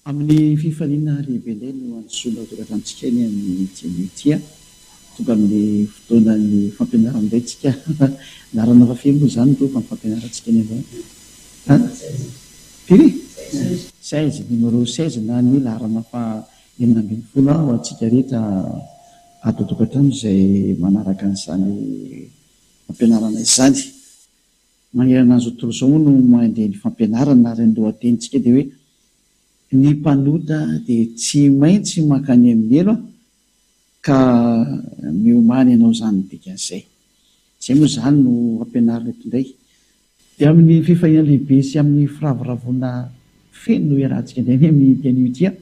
Amin'ny fifaliana ry Belay no androsoana ho tonga tamintsika eny amin'ity anio ity an! Tonga amin'ny fotoanan'ny fampianarana indray tsika anarana fa firy moa izany ireo fampianarantsika eny anao an? Firy? Seize, numéro seize na ny laharana faha Enina ambin'ny folo aho antsika rehetra ato an-tokantrano izay manaraka an'izany fampianarana izany. Manerana an'izao tontolo izao moa no mandeha ny fampianarana ary ny lohatenintsika dia hoe Ny mpanota dia tsy maintsy mankany amin'ny helo ka miomany hanao izany ny dikan'izay. Izay moa izany no ampianarina eto indray Dia amin'ny fifaliana lehibe sy amin'ny firavoravoana feno no iarahantsika indray ny amin'ity anio ity an!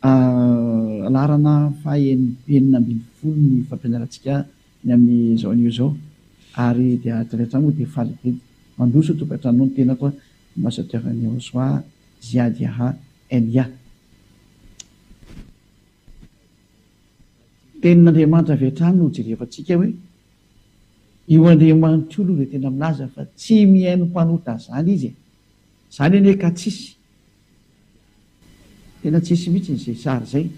Ahh, laharana fahaenina ambin'ny folo ny fampianarantsika ny amin'izao anio izao ary dia avy hatrany moa dia faly be. Mandroso tokantrano ny tenako an! Ambassadeur Niahosoa Ziady Aha, NIA. Tenin'Andriamanitra avy hatrany no hojerevantsika hoe io Andriamanitra io aloha dia tena milaza fa tsy mihaino mpanota izany izy e! Izany anie ka tsisy, tena tsisy mihitsy izay sary izay.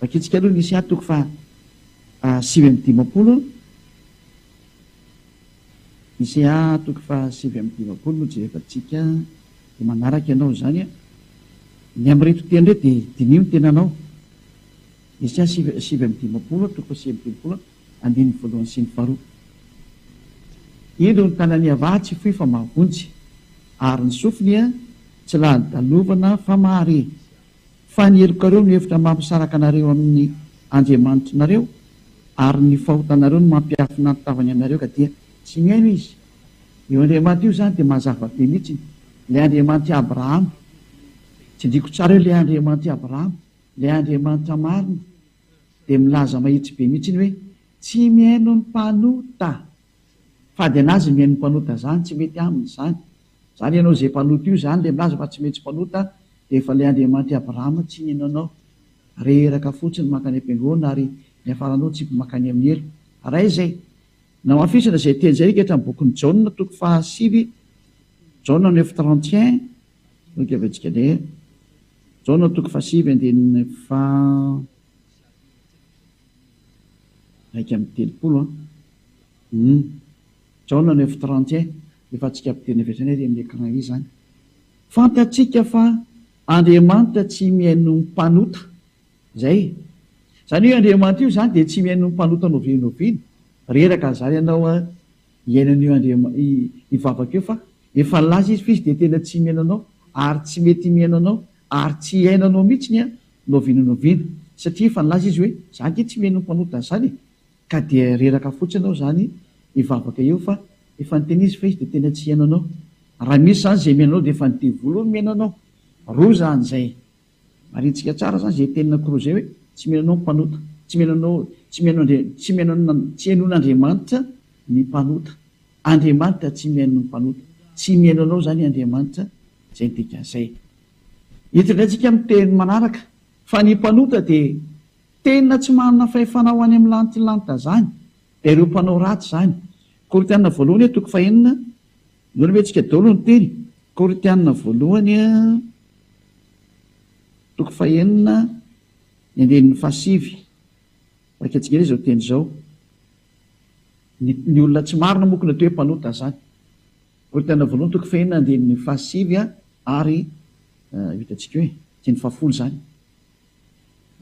Vakintsika aloha ny Isa toko faha sivy amby dimampolo. Isaiah toko faha sivy amby dimampolo no jerevantsika dia manaraka ianao izany an! Ny amin'ireto teny ireto dia diniho ny tenanao. Isaiah sivy sivy amby dimampolo an, toko faha sivy amby dimampolo an, andininy voalohany sy ny faharoa. Indro ny tanan'i Yavah tsy fohy fa mahavonjy, ary ny sofiny tsy lany dalovana fa mahare. Fa ny helokareo no efitra mampisaraka anareo amin'ny Andriamanitry nareo, ary ny fahotanareo no mampiafina ny tavany anareo ka dia tsy mihaino izy. Io Andriamanitra io izany dia mazava be mihitsiny, ilay Andriamanitr'i Abrahama. Tsindriako tsara io, ilay Andriamanitr'i Abrahama, ilay Andriamanitra marina, dia milaza mahitsy be mihitsiny hoe, Tsy mihaino ny mpanota. Fady an'azy ny mihaino ny mpanota izany, tsy mety aminy izany. Zany ianao ze mpanota io zany le milaza fa tsy mety tsy mpanota de efa le Andriamanitr i Abraham tsy nino anao reraka fotsiny mankany am-piangonana ary niafaranao tsipy mankany amin'ny helo raha izay namafisina izay teny izay reketra amin'ny bokin'i Jaona toko faha sivy Jaona neuf trente et un no keventsika de Jaona toko faha sivy andininy faha iraika amby telopolo an. Jaona neuf trente et un efa antsika mpiteny avy hatrany ary amin'ny écran izy izany. Fantatsika fa Andriamanitra tsy mihaino ny mpanota. Izay e. Izany hoe Andriamanitra io izany dia tsy mihaino ny mpanota noviana oviana. Reraka an'izany ianao hihaino an'io Andriama io vavaka io fa efa nilaza izy fa izy dia tena tsy mihaino anao ary tsy mety mihaino anao ary tsy hihaino anao mihitsy ny noviana noviana satria efa nilaza izy hoe za ange tsy mihaino ny mpanota an'izany e. Ka dia reraka fotsiny aho zany hivavaka eo fa efa niteny izy fa izy dia tena tsy hihaino anao. Raha misy zany izay mihaino anao dia efa ny devoly hono mihaino anao. Roa zany izay. Marintsika tsara zany izay tenin'i Koro izay hoe tsy mihaino anao ny mpanota. Tsy mihaino anao, tsy mihaino Andria, tsy mihaino an, tsy hihainoan'Andriamanitra ny mpanota. Andriamanitra tsy mihaino ny mpanota. Tsy mihaino anao zany Andriamanitra. Izay ny dikan'izay. Eto indray tsika amin'ny teny manaraka fa ny mpanota dia. Tena tsy manana fahefana ho any amin'ny lantilanita izany ireo mpanao ratsy izany. Korintiana voalohany a, toko fahenina, inoana ve antsika daholo ny teny? Korintiana voalohany a, toko fahenina, ny andininy fahasivy. Raika tsingera izao teny izao. Ny, ny olona tsy marina moa koa hoe mpanota izany. Korintiana voalohany toko fahenina andininy fahasivy a, ary, uh, hitantsika hoe, teny fahafolo izany.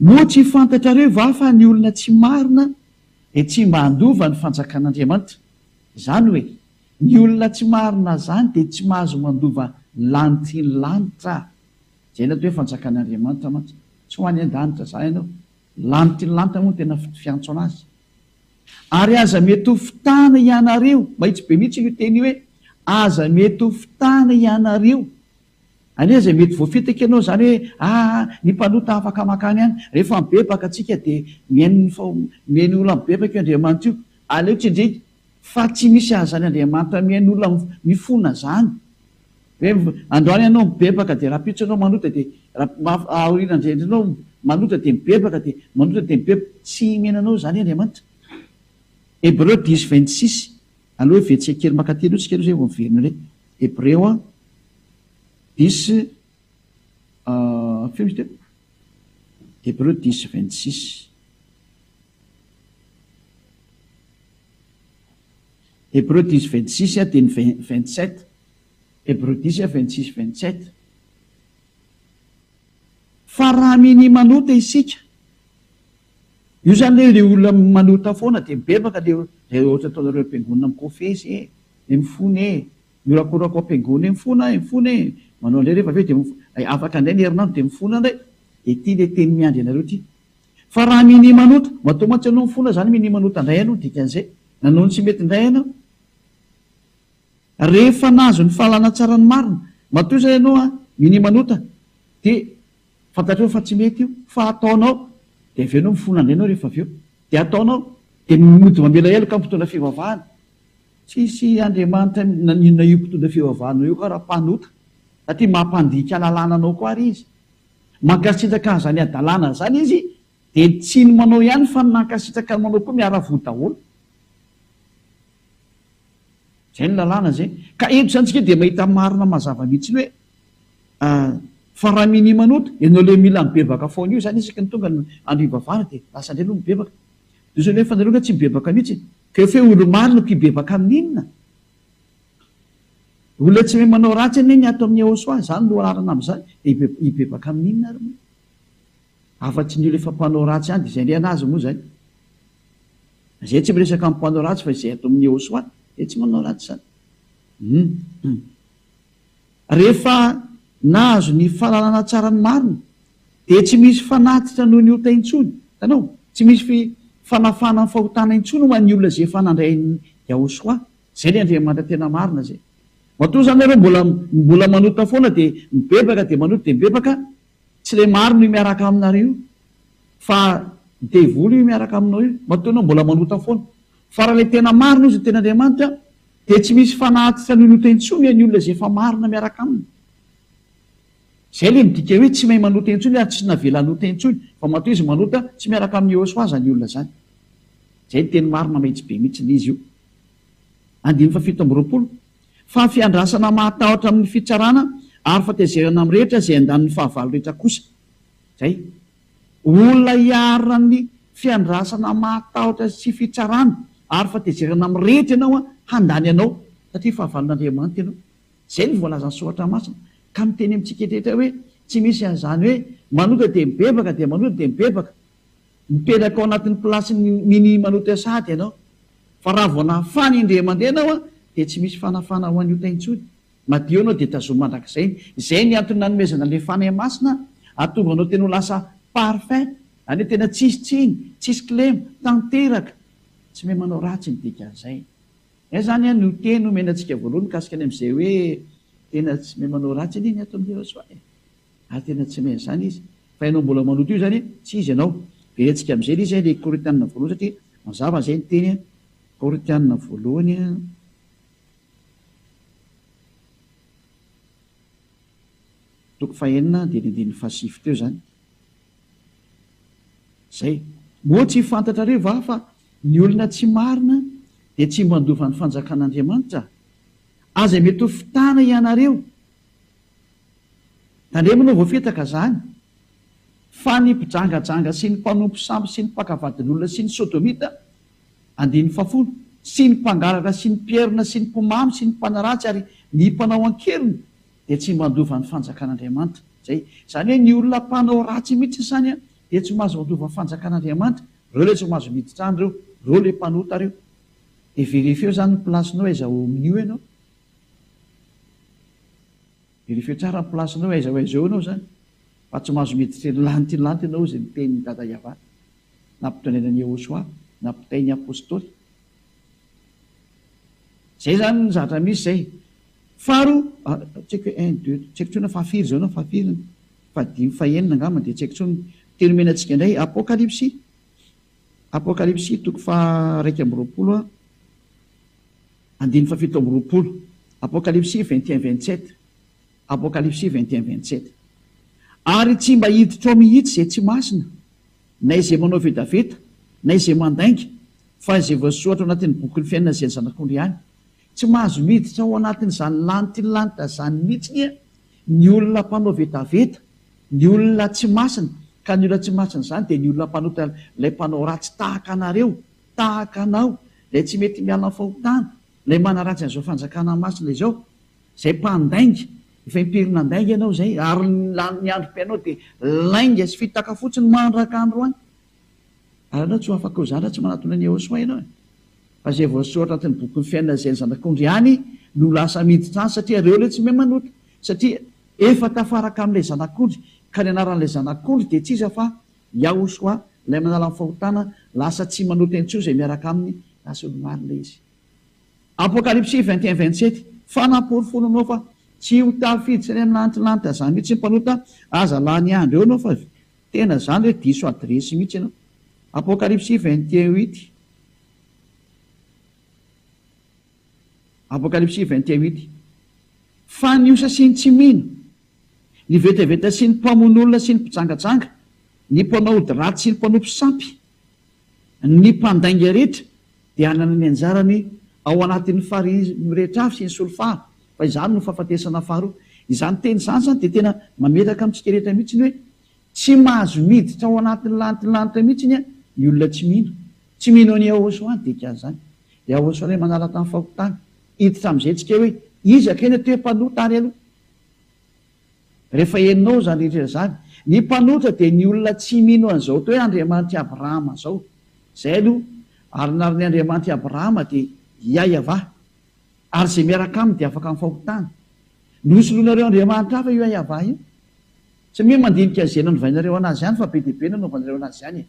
Moa tsy fantatrareo va fa ny olona tsy marina dia tsy mba handova ny fanjakan'Andriamanitra? Izany hoe, ny olona tsy marina izany dia tsy mahazo mandova ny lanitry ny lanitra. Jereo eto hoe fanjakan'Andriamanitra mantsy. Tsy ho any an-danitra izany ianao. Lanitry ny lanitra moa no tena fiantso an'azy. Ary aza mety ho fitana hianareo, mahitsy be mihitsy io teny io hoe aza mety ho fitana hianareo Anie izay mety voafitaka ianao izany hoe aa ny mpanota afaka makany any. Rehefa mibebaka tsika dia mihaino ny fa mihaino olona mibebaka io Andriamanitra io. Aleo tsindriko fa tsy misy azany Andriamanitra mihaino olona mifona zany. Hoe androany ianao mibebaka dia rapitso ianao manota dia rapitso aoriana indray ianao manota dia mibebaka dia manota dia mibebaka. Tsy hihaino anao izany Andriamanitra. Hebreu dix vingt six. Aleo hevetsika kely maka teny eo tsika aloha zay vao miverina indray. Hebreo an, dix feo izy teo? Hebreo dix vingt six. Hebreo dix vingt six dia ny vingt sept. Hebreo dix vingt six vingt sept. Fa raha minia manota isika Io izany ilay hoe ilay olona manota foana dia mibebaka ilay izay ohatra ataonareo am-piangonana mikofesy e, dia mifona e, mihorakoraka ao am-piangonana eo mifona e, mifona e, manao indray rehefa avy eo dia mifona, afaka indray ny herinandro dia mifona indray, dia ity ilay teny miandry anareo ity. Fa raha minia manota, matoa mantsy ianao mifona izany minia manota indray ianao, ny dikan'izay, nanao ny tsy mety indray ianao, rehefa nahazo ny fahalana tsara ny marina, matoa izay ianao minia manota dia. Fantatrao fa tsy mety io fa ataonao dia avy eo enao mifona andeha enao rehefa avy eo dia ataonao dia mody mamela heloka mpitondra fivavahana tsisy Andriamanitra naninona io mpitondra fivavahanao io ka raha mpanota satria mampandika lalàna anao koa ary izy mankasitraka an'izany hadalana zany izy dia tsy ny manao ihany fa ny nankasitraka ny manao koa miara voa daholo zay ny lalàna zay ka eto zany tsika dia mahita marina mazava mihitsy ny hoe Ah fa raha minia manota ianao le mila mibebaka foana io, zany isaky ny tonga ny andro hivavahana de lasa indray aloha mibebaka, de zao nefa nareo nga tsy mibebaka mihitsy e, ka efa hoe olo-marina no mpibebaka amin'ny inona? Olona tsy mahay manao ratsy anie ny ato amin'ny Ehosoa, zany no rarana amin'izany, de hibebaka amin'ny inona ary moa? Afa-tsy ny olo efa mpanao ratsy ihany, de zay indray anazy moa zay, zay tsy miresaka amin'ny mpanao ratsy fa izay ato amin'ny Ehosoa, zay tsy manao ratsy zany, hum hum. Rehefa nahazo ny fahalalana tsara ny marina, dia tsy misy fanatitra noho ny ota intsony. Hitanao? Tsy misy fanafahana ny fahotana intsony ho an'ny olona izay efa nandray an'i Yahoshuah. Izay ilay Andriamanitra tena marina izay. Matoa izany ianao mbola mbola manota foana dia mibebaka dia manota dia mibebaka, tsy ilay marina io miaraka aminareo io, fa ny devoly io miaraka aminao io, matoa ianao mbola manota foana. Fa raha ilay tena marina izy, ny tenin'Andriamanitra, Dia tsy misy fanatitra nonota intsony any olona izay efa marina miaraka aminy. Izay ilay midika hoe tsy mahay manota intsony ary tsy navela hanota intsony, vao matoa izy manota, tsy miaraka amin'i Yehoswa izany olona izany. Izay no teny marina mahitsy be mihitsy ny izy io. Andininy fahafito amby roapolo. Fa ny fiandrasana mahatahotra amin'ny fitsarana ary fahatezerana amin'ny rehetra izay andanin'ny fahavalo rehetra kosa. Zay. Olona hiarina amin'ny fiandrasana mahatahotra sy fitsarana ary fatezerana mirehitra ianao an, handany anao satria fahavalon'Andriamanitra ianao. Zay no voalazan'ny soratra masina ka miteny amintsika eritreretra hoe tsy misy an'izany hoe manota dia mibebaka dia manota dia mibebaka. Mipetraka ao anatin'ny plasin'ny mini manota sahady ianao. Fa raha vao nafana indray mandeha ianao an dia tsy misy fanafana ho an'ny ota intsony. Madio ianao dia tazomy mandrakizay. Izay ny antony nanomezana ilay Fanahy Masina hahatonga anao tena ho lasa parfait, any hoe tena tsisy tsiny, tsisy kilema, tanteraka. Tsy mahay manao ratsy ny dikan'izay. Izay izany an no teny omena antsika voalohany mikasika ny amin'izay hoe tena tsy mahay manao ratsy anie ny aton'i Jehosoa e! ary tena tsy mahay an'izany izy. Fa ianao mbola manoto io izany e! tsy izy ianao. Very antsika amin'izay ilay izy ilay Korintianina voalohany satria mazava izay ny teny an, Korintianina voalohany an. Toko fahenina andininy andininy fahasivy teo izany. Izay. Moa tsy fantatrareo va fa ny olona tsy marina dia tsy mba handova ny fanjakan'Andriamanitra? Aza mety ho fitana ianareo. Tandremo no voafitaka izany. Fa ny mpijangajanga sy ny mpanompo sampy sy ny mpaka vadin'olona sy ny sodomita Andininy fahafolo, Sy ny mpangalatra sy ny mpierina sy ny mpimamy sy ny mpanaratsy ary ny mpanao an-keriny dia tsy mba handova ny fanjakan'Andriamanitra. Izay, izany hoe ny olona mpanao ratsy mihitsy izany dia tsy mahazo handova ny fanjakan'Andriamanitra. Ireo ilay tsy mahazo miditra any ireo, ireo ilay mpanota ireo. Dia verifieo izany ny place-nao aiza ao amin'io ianao. Verifieo tsara ny place-nao aiza ao aiza eo ianao izany. Fa tsy mahazo miditra eny lanitra eny lanitra ianao izay miteny Dada Yavah. nampitondrainan'i Yehosua nampitain'ny apostoly. Izay izany ny zavatra misy izay. Faharoa, tsy haiko hoe un, deux, tsy haiko intsony hoe fahafiry izao na fahafiry, fahadimy, fahenina angamba dia tsy haiko intsony. Ny teny omena antsika indray Apokalypsy, Apokalypsy toko faha iraika amby roapolo andininy fahafito amby roapolo, Apokalypsy vingt et un vingt sept, Apokalypsy vingt et un vingt sept. Ary tsy mba hiditra ao mihitsy izay tsy masina. na izay manao vetaveta, na izay mandainga, fa izay voasoratra ao anatin'ny bokin'ny fiainana izay zanak'ondry ihany. Tsy mahazo miditra ao anatin'izany lantilanitra izany mihitsy anie ny olona mpanao vetaveta, ny olona tsy masina, ka ny olona tsy masina izany dia ny olona mpanota ilay mpanao ratsy tahaka anareo, tahaka anao, ilay tsy mety miala amin'ny fahotana, ilay manaratsy an'izao fanjakana masina izao. Izay mpandainga, efa impiry nandainga ianao izay ary ny lanin'ny androm-piainao dia lainga sy fitaka fotsiny mandraka androany? Ary ianao tsy ho afaka ho zanatry manatona an'i Yehosua ianao e! Fa izay voasoratra anatin'ny bokin'ny fiainana izay ny zanak'ondry ihany no lasa miditra any satria ireo ilay tsy mahay manota satria efa tafaraka amin'ilay zanak'ondry ka ny anaran'ilay zanak'ondry dia tsy iza fa Yahosua ilay manala ny fahotana, lasa tsy manota intsony izay miaraka aminy raha tsy olo-marina izy. Apokalypsy vingt et un vingt sept Fa namporofono nao fa tsy ho tafiditra any anaty lanitra zany mihitsy ny mpanota aza lany andro eo nao fa tena zany re diso adiresy mihitsy ianao Apokalypsy vingt et un huit Apokalypsy vingt et un huit Fa ny osa sy ny tsy mino ny vetaveta sy ny mpamono olona sy ny mpijangajanga ny mpanao ody ratsy sy ny mpanompo sampy Ny mpandainga rehetra dia hanana ny anjarany ao anatin'ny fary mirehitra avy sy ny solifara fa izany no fahafatesana faharoa. Izany teny izany izany dia tena mametraka amintsika rehetra mihitsy ny hoe tsy mahazo miditra ao anatin'ny lantin'ny lanitra mihitsy ny ny olona tsy mino. Tsy mino an'i Yahosoa ny dikan'izany. Yahosoa ilay manala tamin'ny fahotana. Hiditra amin'izay tsika hoe iza kay no toe-panota ary aloha. Rehefa henonao izany rehetra izany, ny mpanotra dia ny olona tsy mino an'izao atao hoe Andriamanitr'i Abrahama izao. Izay aloha, ary ny arin'ny Andriamanitr'i Abrahama dia Iahiavah, ary izay miaraka aminy dia afaka amin'ny fahotana. Nosoloinareo andriamanitra hafa io Iahiavah io. Tsy miha mandinika an'izay nanovainareo an'azy ihany fa be dia be nanaovanareo an'azy ihany e.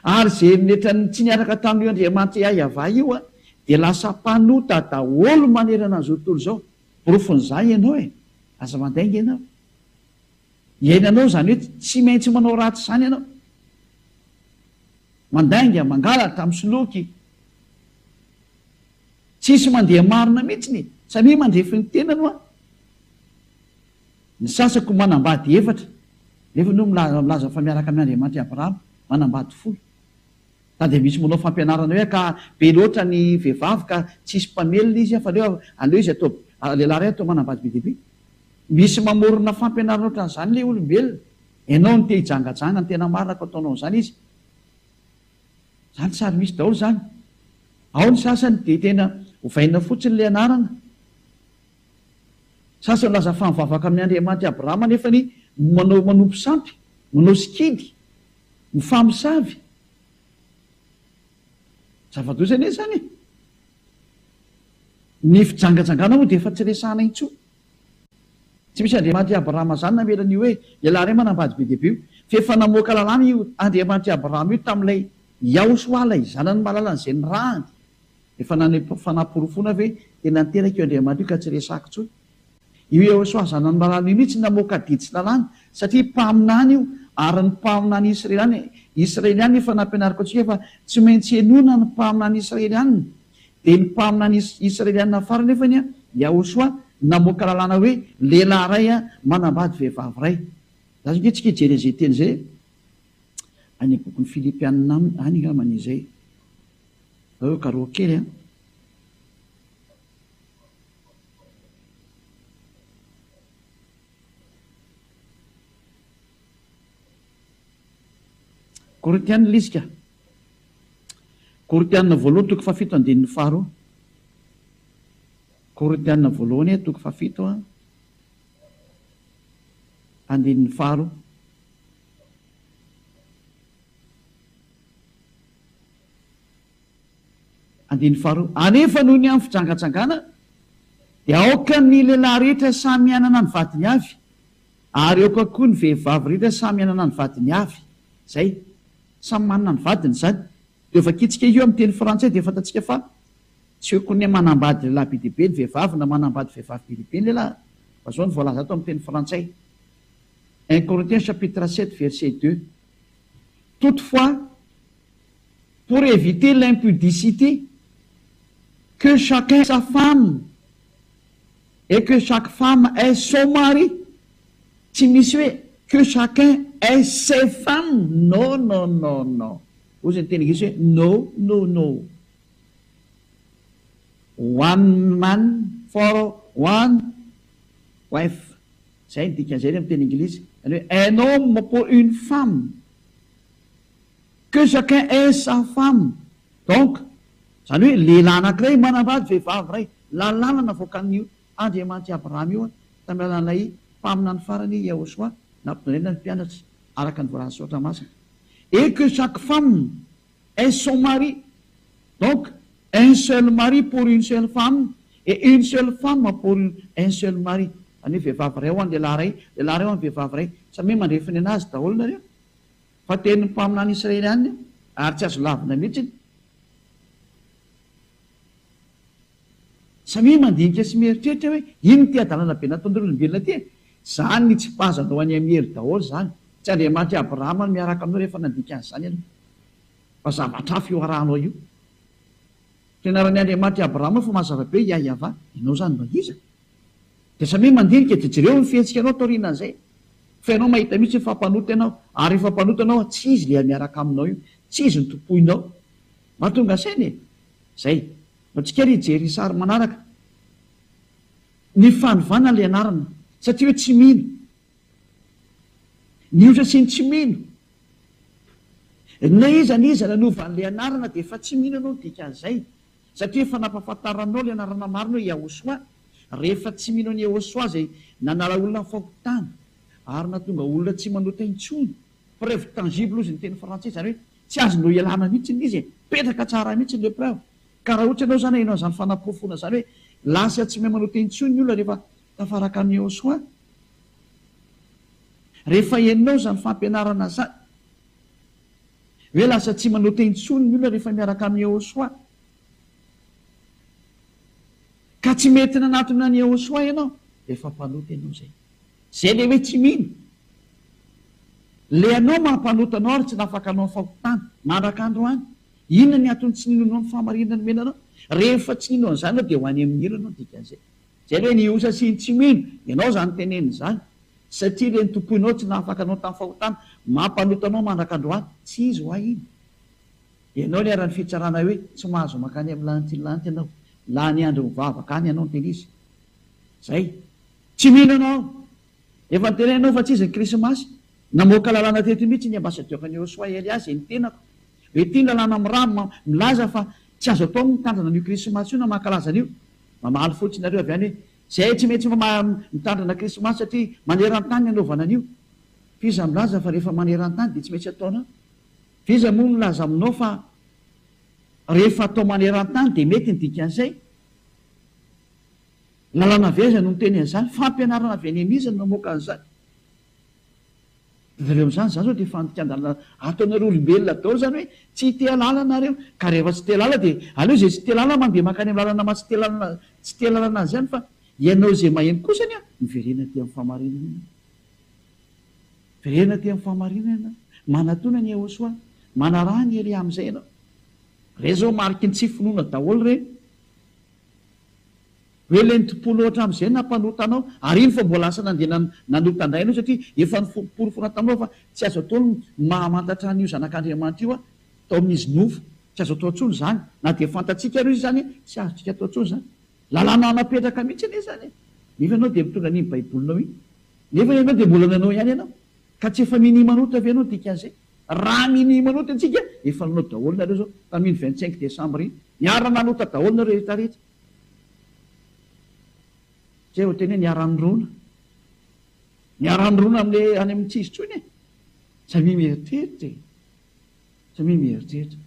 Ary izay eritreritran'ny tsy niaraka tamin'io Andriamanitra Iahiavah io dia lasa mpanota daholo manerana an'izao tontolo izao. Porofon'izany ianao e! Aza mandainga ianao. Iainanao izany hoe tsy maintsy manao ratsy izany ianao. Mandainga, mangalatra, misoloky. Tsisy mandeha marina mihitsy ny, samia mandrefy ny tenany hoa. Ny sasako manambady efatra nefa no milaza fa miaraka amin' Andriamanitra i Abrahama, manambady folo. Sa dia misy manao fampianarana hoe ka be loatra ny vehivavy ka tsy hisy mpamelona izy fa aleo aleo izy atao lehilahy iray atao manambady be dia be. Misy mamorona fampianarana ohatran'izany ilay olombelona. Ianao no te hijangajanga, ny tena marina ka ataonao an'izany izy. Izany tsy ary misy daholo izany. Ao ny sasany dia tena ovaina fotsiny ilay anarana Sasy nilaza fa mivavaka amin'ny Andriamanitra i Abrahama nefa ny manao manompo sampy, manao sikidy, mifamosavy. Zava-doza anie izany e! Ny fijangajangana moa dia efa tsy resahana intsony. Tsy misy Andriamanitra i Abrahama izany namela an'io hoe ialahy iray manambady be dia be io, fa efa namoaka lalàna io Andriamanitra i Abrahama io tamin'ilay Iahosoa ilay zanany malalany izay nirahany. Efa nanome fanaporofoana ve tena niteraka io Andriamanitra io ka tsy resahako intsony? Io Iehosoa zanan'i Marana io mihitsy namoaka didy sy lalàna satria mpaminany io ary ny mpaminany Israely Israeliana efa nampianariko antsika fa tsy maintsy henoina ny mpaminany Israeliana dia ny mpaminany Israeliana farany anefa ny Iahosoa namoaka lalàna hoe lehilahy iray manambady vehivavy iray za zao antsika hijery an'izay teny izay any amin'ny bokin'ny Filipiana any angambany izay Nareo karoa kely an! Korintiana lisika, Korintiana voalohany toko fahafito andininy faharoa, Korintiana voalohany toko fahafito an, andininy faharoa. Andininy faharoa, Anefa noho ny amin'ny fijanganjangana dia aoka ny lehilahy rehetra samy hanana ny vadiny avy, ary aoka koa ny vehivavy rehetra samy hanana ny vadiny avy. Izay. Samy manana ny vadiny izany. Dia vakitsika io amin'ny teny frantsay dia fantatsika fa tsy okon'ny manambady lehilahy be dia be ny vehivavy na manambady vehivavy be dia be ny lehilahy fa izao no voalaza ato amin'ny teny frantsay, un Corinthiens chapitre sept verset deux, Toutefois, Pour eviter l'impudicité, que chacun sa femme et que chaque femme ait son mari, tsy misy hoe que chacun ait ses femmes, no no no no, hoy izay niteny gasy hoe no no no, one man for one wife, izay ny dikan'izay anie amin'ny teny Anglisy, izany hoe un homme pour une femme. Que chacun ait sa femme, donc zany hoe lehilahy anankiray manambady vehivavy iray, lalàna navoakan'io Andriamanitra i Abrahama io tamin'ny alalan'ilay mpaminany farany Yahoshuah nampidondraina ny mpianatra araka ny voalazan'ny soratra masina, et que chaque femme ait son mari, donc un seul mari pour une seule femme et une seule femme pour un seul mari, zany hoe vehivavy iray ho an'ny lehilahy iray, lehilahy iray ho an'ny vehivavy iray, samy hoe mandre finoana azy daholo nareo. Fa teny ny mpaminany Israely any ary tsy azo lavina mihitsy iny. Samia mandinika sy mieritreritra hoe ino ity hadalana be nataon'ireo olombelona ity e? Zany nitsipazana ho any amin'ny hery daholo zany. Tsy Andriamanitry Abrahama no miaraka aminao rehefa nandika an'izany ianao. Fa zavatra hafa io arahanao io. Fianaran'ny Andriamanitry Abrahama fa mazava be i Yahyavah. Ianao zany mba iza? Dia samia mandinika dia jereo ny fihetsikanao taorianan'izay fa ianao mahita mihitsy hoe fa mpanota ianao ary rehefa mpanota ianao tsy izy ilay miaraka aminao io, tsy izy no tompoinao. Mahatonga saina e! Izay. Mba tsy kely hijery ny sary manaraka. Ny fanovana ilay anarana satria hoe tsy mino. Nihotra sy ny tsy mino. Na iza na iza nanova an'ilay anarana dia efa tsy mino ianao ny dikan'izay. Satria efa nampahafantaranao ilay anarana marina hoe Yahosoa, rehefa tsy mino an'i Yahosoa izay nanala olona fahotana ary nahatonga olona tsy manota intsony. Preuve tangible hozy ny teny frantsay, izany hoe tsy azonao ialana mihitsy ilay izy e! Mipetraka tsara mihitsy ilay preuve. Ka raha ohatra ianao izany haino an'izany fanaporofoana izany hoe lasa tsy mahay manota intsony ny olona rehefa tafaraka amin'i Yahosoa, rehefa henonao izany fampianarana izany, Hoe lasa tsy manao teny intsony ny olona rehefa miaraka amin'i Yehosua. Ka tsy mety nanatona an'i Yehosua ianao, efa mpanota ianao izay. Izay ilay hoe tsy mino. Ilay anao maha mpanota anao ary tsy nafaka anao ny fahotana. Mandraka androany. Inona ny antony tsy ninoanao ny fahamarinana nomena anao? Rehefa tsy nino an'izany ianao dia ho any amin'ny helo ianao, dikan'izay. Izay ve ny osa sy ny tsy mino? Ianao izany tenenina izany, satria ilay notompoinao tsy nahafaka anao tamin'ny fahotana, mampanota anao mandraka androany. Tsy izy ho ahy iny. Ianao niharan'ny fitsarana hoe tsy mahazo mankany amin'ny lanitry ny lanitra ianao. Lany andro mivavaka any ianao no tena izy. Izay. Tsy mino ianao. Efa noteneninao fa tsy izy ny Krismasy. Namoaka lalàna teto mihitsy ny ambasadiora Niosuai Elias izay nitenako hoe ity ny lalàna milaza fa tsy azo atao ny mitandrina an'io Krismasy io na mankalaza an'io. Mamaly fotsiny nareo avy any hoe zay tsy maintsy mitandrina krismasy satria manerantany ny anaovana an'io. F'iza milaza fa rehefa manerantany dia tsy maintsy ataonao? F'iza moa milaza aminao fa rehefa atao manerantany dia mety ny dikan'izay? Lalàna avy aiza no miteny an'izany? Fampianarana avy any amin'iza no namoaka an'izany? Avereo amin'izany, izany izao dia fandikan-dalana ato anareo olombelona daholo izany hoe tsy hiteha lala nareo, ka rehefa tsy te lala dia aleo izay tsy te lala mandeha mankany amin'ny lalana maha tsy te lalana azy ihany fa ianao izay maheno kosa anie miverena aty amin'ny fahamarinana ianao. Miverena aty amin'ny fahamarinana ianao. Manatona an'i Yehosua. Manaraha an'i Elia amin'izay ianao. Ireny izao mariky ny tsy finoana daholo ireny. Hoe lenti-po loatra amin'izay nampanota anao, ary iny fa mbola lasa nandeha nanota indray ianao, satria efa noporofoina taminao fa tsy azo atao ny mahamantatra an'io Zanak'Andriamanitra io tao amin'izy nofo. Tsy azo atao intsony izany. Na dia fantatsika ary izy izany, tsy azontsika atao intsony izany. Lalàna napetraka mihitsy anie izany, nefa ianao dia mitondra an'iny Baibolinao iny. Nefa ianao dia mbola nanao ihany ianao. Ka tsy efa minia manota ve ianao dikan'izay? Raha minia manota antsika, efa nanao daholo nareo zao, tamin vingt cinq decembre iny, niara nanota daholo nareo rehetra rehetra. Zay vao tena hoe niara nirona. Niara nirona amle any amin tsizy tsony e. Samia mieritreritra e. Samia mieritreritra.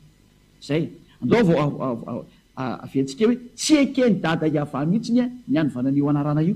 Zay. Andao vao aventsika hoe tsy eken dada Yava mihitsiny ny anivana anio anarana io.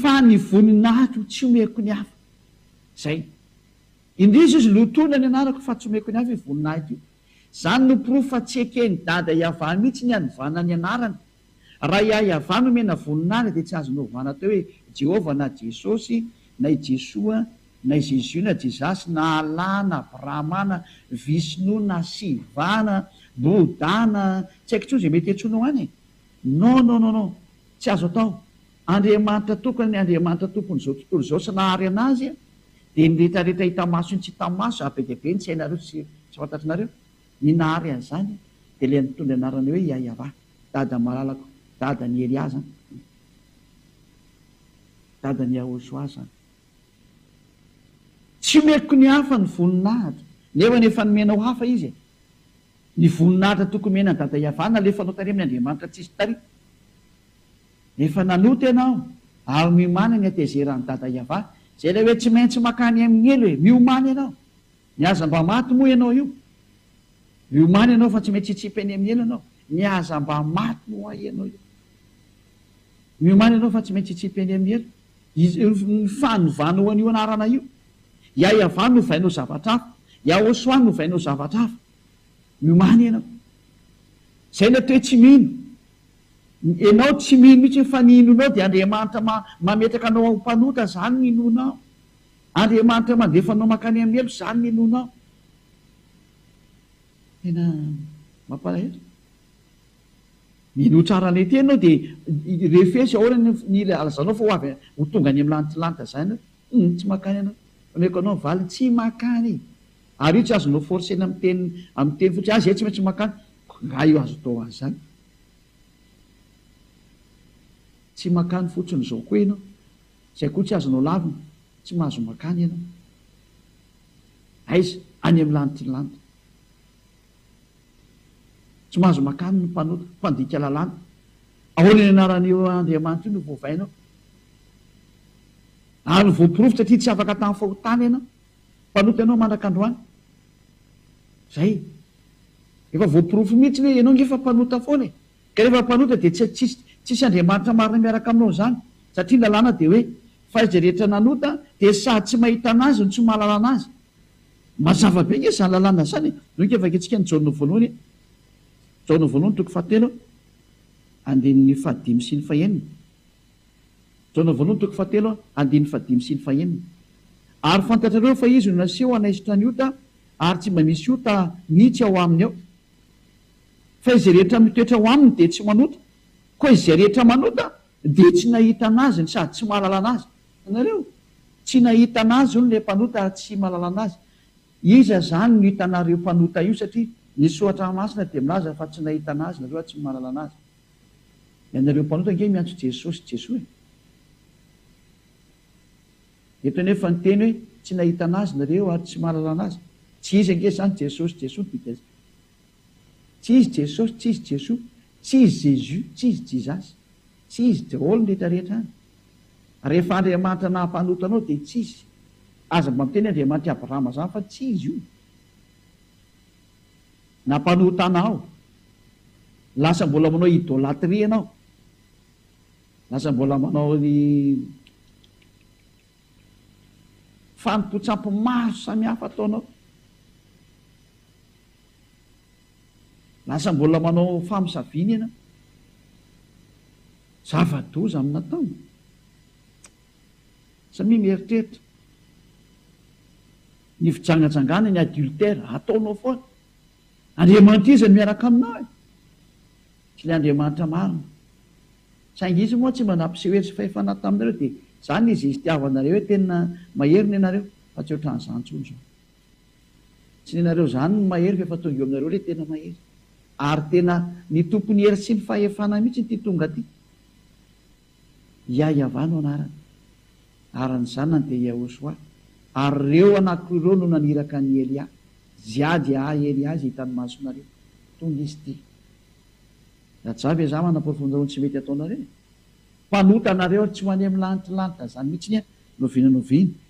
Fa ny voninahiko no tsy omeko ny hafa. Izay. Indrisy izy lotoina ny anarako fa tsy omeko ny hafa io voninahiko io. Izany no porofo fa tsy eken'i Dada Yavah mihitsy ny hanovana ny anarany. Raha i Yavah no omena voninahitra dia tsy azony ovana atao hoe Jehovah na Jesosy na i Jesoa na i Zezio na Jezasy na Allah na Brahma na Vishnou na Siva na Bouddha na tsy haiko intsony izay mety hiantsoanao any e. Non non non non tsy azo atao, Andriamanitra tokana ny Andriamanitra tompon'izao tontolo izao sy nahary anazy dia ny rehetra rehetra hita maso sy tsy hita maso ary be dia be ny sainareo sy tsy fantatrinareo ny nahary an'izany dia ilay nitondra ny anarana hoe Yayava dada malalako dada ny Elia zany dada ny Yahoshua zany tsy omeko ny hafa ny voninahitra nefa ny efa nomenao hafa izy e. Ny voninahitra tokony omena an'i Dada Iavana alefa anao tarehy amin'ny Andriamanitra tsisy taria. Efa nanota ianao ary miomana ny hatezeran'i Dada Iava. Izay ilay hoe tsy maintsy makany amin'ny helo e! Miomana ianao. Ny aza mba maty moa ianao io. Miomana ianao fa tsy maintsy hitsipy any amin'ny helo ianao. Ny aza mba maty moa ianao io. Miomana ianao fa tsy maintsy hitsipy any amin'ny helo. Io fanovana ho an'io anarana io. I Ayava novaina ho zavatra hafa. I Ahosoa novaina ho zavatra hafa. Miomàna ianao. Izay ilay toe tsy mino. Ianao tsy mino mihitsy fa ny inoanao dia Andriamanitra mametraka anao ho mpanota, izany no inoanao. Andriamanitra mandefa anao mankany amin'ny heloka, izany no inoanao. Tena mampalahelo. Mino tsara an'ilay teny ianao dia refesy ahoana ny ny ilay alazanao fa ho avy ho tonga any amin'ny lantilanta izany hoe humm tsy makany ianao. Omeko anao ny valiny, tsy makany e! Ary io tsy azonao forcer-na amin'ny teny amin'ny teny fotsiny, ah izay tsy maintsy makany, koa angaha io azo atao azy izany? Tsy makany fotsiny izao koa ianao, izay koa tsy azonao lavina, tsy mahazo makany ianao. Aiza? Any amin'ny lantilanta. Tsy mahazo makany ny mpanota, mpandika lalàna. Ahoana io anaran'io Andriamanitra io no voavainao? Ary voaporofo satria tsy afaka tamin'ny fahotana ianao. Mpanota ianao mandraka androany. Zay. Efa voaporofo mihitsy hoe ianao nge fa mpanota foana e. Ka rehefa mpanota dia tsy tsisy tsisy Andriamanitra marina miaraka aminao izany. Satria ny lalàna dia hoe fa izay rehetra nanota dia sady tsy mahita anazy no tsy mahalala anazy. Mazava be nge zany lalàna zany e! Reo nge vakintsika ny Jaona voalohany e! Jaona voalohany toko fahatelo andininy fahadimy sy ny fahenina. Jaona voalohany toko fahatelo andininy fahadimy sy ny fahenina. Ary fantatrareo fa izy no naseho hanaisotra ny ota ary tsy mba misy ota mihitsy ao aminy ao. Fa izay rehetra mitoetra ao aminy dia tsy manota, koa izay rehetra manota dia tsy nahita anazy sady tsy mahalala anazy. Hitanareo? Tsy nahita an'azy hono ilay mpanota ary tsy mahalala an'azy. Iza izany no hitanareo io mpanota io satria ny soratra masina dia milaza fa tsy nahita an'azy ianareo ary tsy mahalala an'azy. Ianareo mpanota ange miantso Jesosy Jesoa e! Eto anefa ny teny hoe tsy nahita an'azy nareo ary tsy mahalala an'azy. Tsy izy ange izany Jesosy Jesoa no dika izany. Tsy izy Jesosy, tsy izy Jesoa, tsy izy Jésus, tsy izy Jizasy, tsy izy daholo ny rehetra rehetra any. Rehefa Andriamanitra nahampanota anao dia tsy izy. Aza mba miteny Andriamanitra i Abrahama izany fa tsy izy io. Nampanota anao. Lasa mbola manao idolatria ianao. Lasa mbola manao ny fanompoan-tsampy maro samihafa ataonao. Lasa mbola manao famosaviana ianao. Zava-doza amin'ny nataony? Samia mieritreritra ny fijangajangana ny adultère ataonao foana. Andriamanitra iza no miaraka aminao e? Tsy ilay Andriamanitra marina. Saingy izy moa tsy mba nampiseho hery sy fahefana taminareo dia izany izy izy tiavanareo hoe tena mahery ny anareo fa tsy ohatran'izany intsony izao. Tsy nenareo zany ny mahery f'efa tonga eo aminareo le tena mahery. Ary tena ny tompon'ny hery sy ny fahefana mihitsy ity tonga ty. Yah Yavah no anarany. Ary ny zanany dia Yahoshuah. Ary reo anakoroa reo no naniraka an'i Elia. Jiah Jiaha Elia izay hitan'ny masonareo. Tonga izy ty. Rajah ve zah manaporofon-dreo ny tsy mety ataonareo e. Mpanota nareo ary tsy ho any amin'ny lanitry lanitra zany mihitsy ny ahy. Noviana noviana.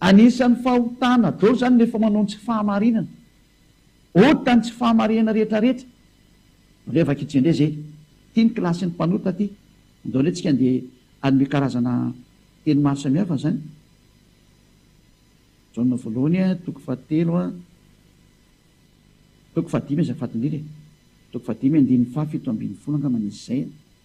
Anisan'ny fahotana dol zany rehefa manao ny tsy fahamarinana. Ota ny tsy fahamarinana rehetra rehetra. Andreo vakitsika ndray zay. Ty ny kilasin'ny mpanota ty. Andao ndray tsika ndeha hanome karazana teny maro samihafa zany. Jaona voalohany a, toko fahatelo a, toko fahadimy aza fadin'ila e. Toko fahadimy andininy faha fito ambin'ny folo angamba nisy zay e.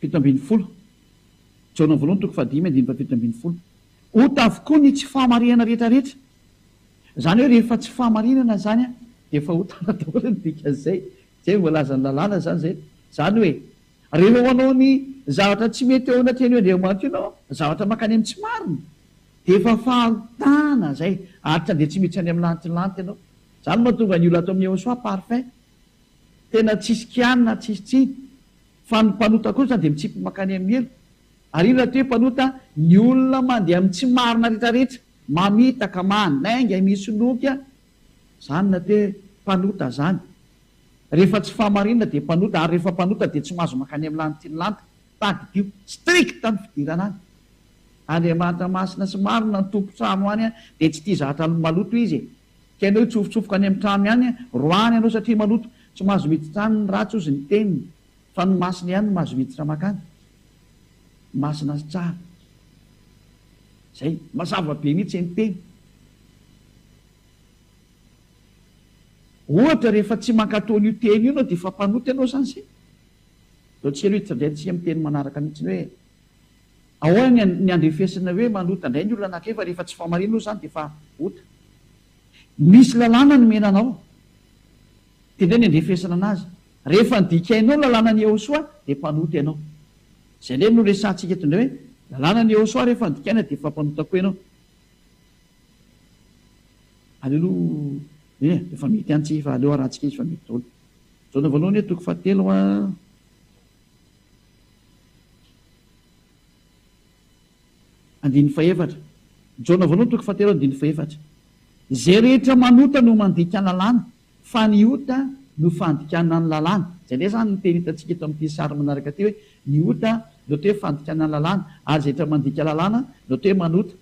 Fito ambin'ny folo, Jaona voalohany toko fahadimy andininy fahafito ambin'ny folo. Ota avokoa ny tsy fahamarinana rehetrarehetra. Izany hoe rehefa tsy fahamarinana izany dia efa ota daholo ny dikan'izay. Tsy hay ny voalazan'ny lalàna izany izay. Izany hoe rehefa manao ny zavatra tsy mety eo anatrehan'io Andriamanitra io ianao, zavatra mankany amin'ny tsy marina, dia efa fahotana izay, ary tsy handeha tsy miditra any amin'ny lanitry ny lanitra ianao. Izany no mahatonga an'io lato amin'ny Yehosua parfait. Tena tsisy kianina tsisy tsiny fa ny mpanota kosa dia mitsipy makany amin'ny elo ary io rahateo mpanota ny olona mandeha amin'ny tsy marina retraretra mamitaka manainga misy loky a! zany rahateo e! mpanota zany rehefa tsy fahamarinana dia mpanota ary rehefa mpanota dia tsy mahazo makany amin'ny lany tiany lany tadidio strict ny fidirana any Andriamanitra masina sy marina ny tompon-trano any dia tsy tia zatra maloto izy e! Tsy an'io hitsofotsofoka any amin'ny trano ihany roahany ianao satria maloto, tsy mahazo miditra any ny ratsy ozy ny teniny fa ny masina ihany no mahazo miditra makany. Masina sy tsara. Zay. Mazava be mihitsy ny teny. Ohatra rehefa tsy mankato an'io teny io ianao dia efa mpanota ianao zany zay. Zao tsy ela io hitsidray tsihy amin'ny teny manaraka mihitsy hoe. Ahoana ny andrefesana hoe manota indray ny olona anankiray fa rehefa tsy fahamariana oa izany dia efa ota. Misy lalàna nomena anao dia indray ny andrefesana anazy. Rehefa nodikainao ny lalànan'i Yehosua dia mpanota ianao. Izay indray no resahantsika eto indray hoe lalànan'i Yehosua rehefa nodikaina dia efa mpanota koa ianao. Aleloia! Eny e, efa mety ihany tsika fa aleo arahantsika izy fa mety daholo. Jaona voalohany hoe toko fahatelo a. Andininy fahefatra. Jaona voalohany toko fahatelo andininy fahefatra. Izay rehetra manota no mandika ny lalàna, fa ny ota no fandikana ny lalàna. Izay indray izany no teny hitantsika eto amin'ity sary manaraka ity hoe ny ota no atao hoe fandikana ny lalàna, ary izay rehetra mandika lalàna no atao hoe manota.